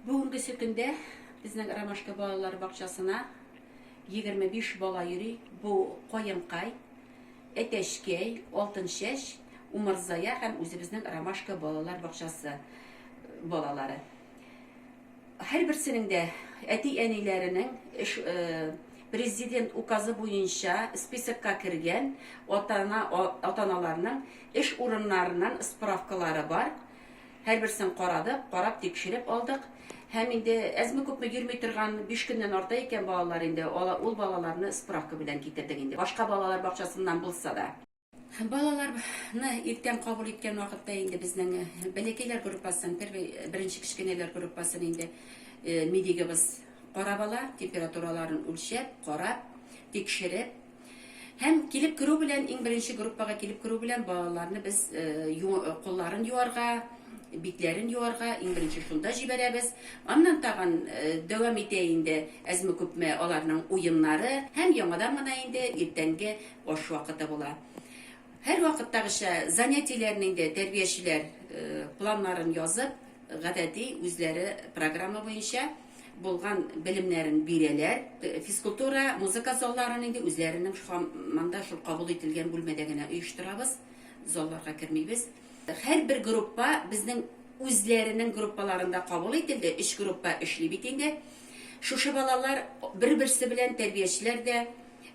Бүгенгесе көндә безнең Ромашка балалар бакчасына 25 бала йөри. Бу Каенкай, Әтәчкәй, Алтынчәч, Умырзая һәм үзебезнең Ромашка балалар бакчасы балалары. Һәрберсенең дә әти-әниләренең эш Президент указы буенча списокка кергән ата-ана ата-аналарның эш урыннарыннан справкалары бар. Һәрберсен карадык, карап тикшереп алдык. Һәм инде әзме-күпме йөрми торган, биш көннән арта икән балалар инде, ул балаларны справка белән китердек инде, башка балалар бакчасыннан булса да. Балаларны иртән кабул иткән вакытта инде безнең бәләкәйләр группасын, первый, беренче кечкенәләр группасын инде медигыбыз карап ала, температураларын үлчәп, карап, тикшереп, Һәм килеп керү белән, иң беренче группага килеп керү белән балаларны без кулларын юарга, битләрен юарга иң беренче шунда җибәрәбез. Аннан тагын дәвам итә инде әзме-күпме аларның уеннары һәм яңадан гына инде иртәнге аш вакыты була. Һәрвакыттагыча, занятиеләрнең дә тәрбиячеләр планнарын язып, гадәти үзләре программа буенча булган белемнәрен бирәләр. Физкультура, музыка залларын инде үзләренең һаман да шул кабул ителгән бүлмәдә генә оештырабыз, залларга кермибез. Һәрбер группа безнең үзләренең группаларында кабул ителде, өч группа эшли бит инде. Шушы балалар бер-берсе белән тәрбиячеләр дә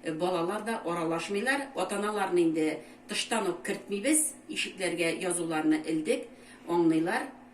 Балалар да аралашмыйлар. Атаналарны инде тыштан ук кертмибез, ишекләргә язуларны элдек, аңныйлар.